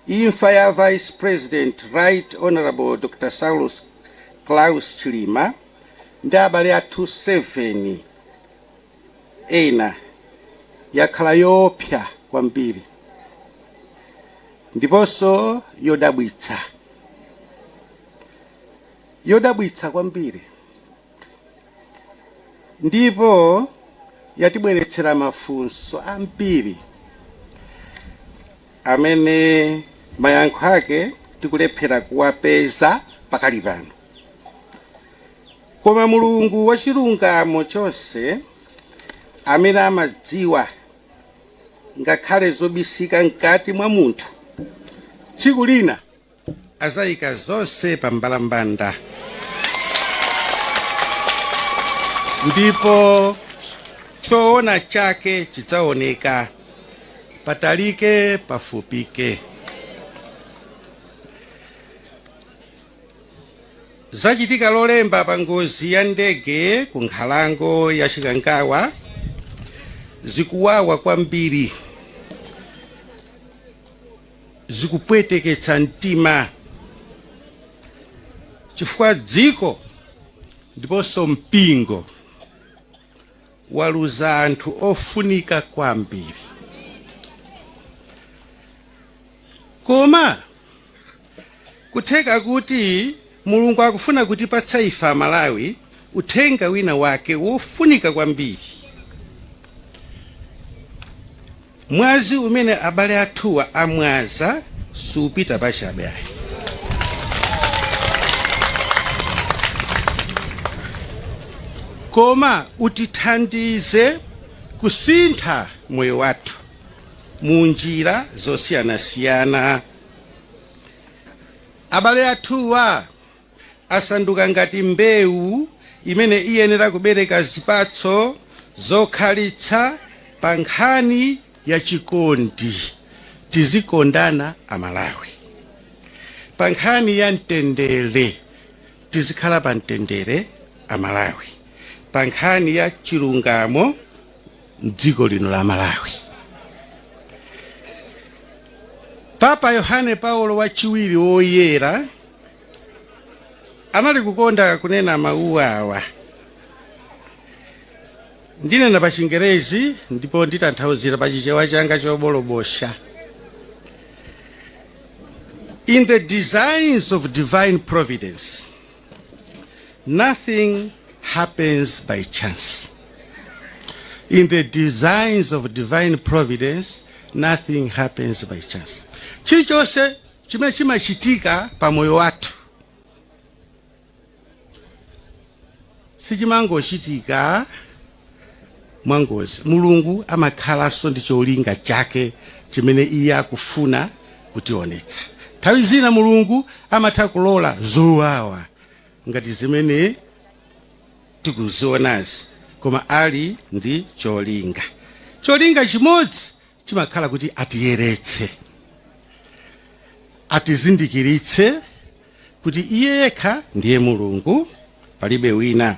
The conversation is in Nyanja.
Imfa ya Vice President Right Honourable Dr Saulos Klaus Chilima ndi abale athu 7 ena yakhala yoopsa kwambiri ndiponso yodabwitsa kwambiri. Ndipo yatibweretsera mafunso ambiri amene mayankho ake tikulephera kuwapeza pakali pano. Koma Mulungu wachilungamo chonse, amene amadziwa ngakhale zobisika mkati mwa munthu, tsiku lina azayika zonse pa mbalambanda ndipo choona chake chidzaoneka patalike pafupike zachitika lolemba pa ngozi ya ndege ku nkhalango ya chikangawa zikuwawa kwambiri zikupweteketsa mtima chifukwa dziko ndiponso mpingo waluza anthu ofunika kwambiri koma kutheka kuti mulungu akufuna kutipatsa ife amalawi uthenga wina wake wofunika kwambiri Mwazi umene abale athuwa amwaza siupita pachabe ayi. Koma utithandize kusintha moyo wathu mu njira zosiyanasiyana. Abale athuwa asanduka ngati mbewu imene iyenera kubereka zipatso zokhalitsa pa nkhani ya chikondi. Tizikondana Amalawi. Pa nkhani ya mtendere, tizikhala pa mtendere Amalawi. Pa nkhani ya chilungamo m'dziko lino la Malawi. Papa Yohane Paulo wachiwiri woyera anali kukonda kunena mawu awa ndinena pa chingerezi ndipo nditanthauzira pa chichewa changa chobolobosha in the designs of divine providence nothing happens by chance in the designs of divine providence nothing happens by chance chilichonse chimene chimachitika pa moyo wathu sichimangochitika mwangozi. Mulungu amakhalanso ndi cholinga chake chimene iye akufuna kutionetsa. Nthawi zina Mulungu amatha kulola zowawa ngati zimene tikuzionazi, koma ali ndi cholinga. Cholinga chimodzi chimakhala kuti atiyeretse, atizindikiritse kuti iye yekha ndiye Mulungu, palibe wina.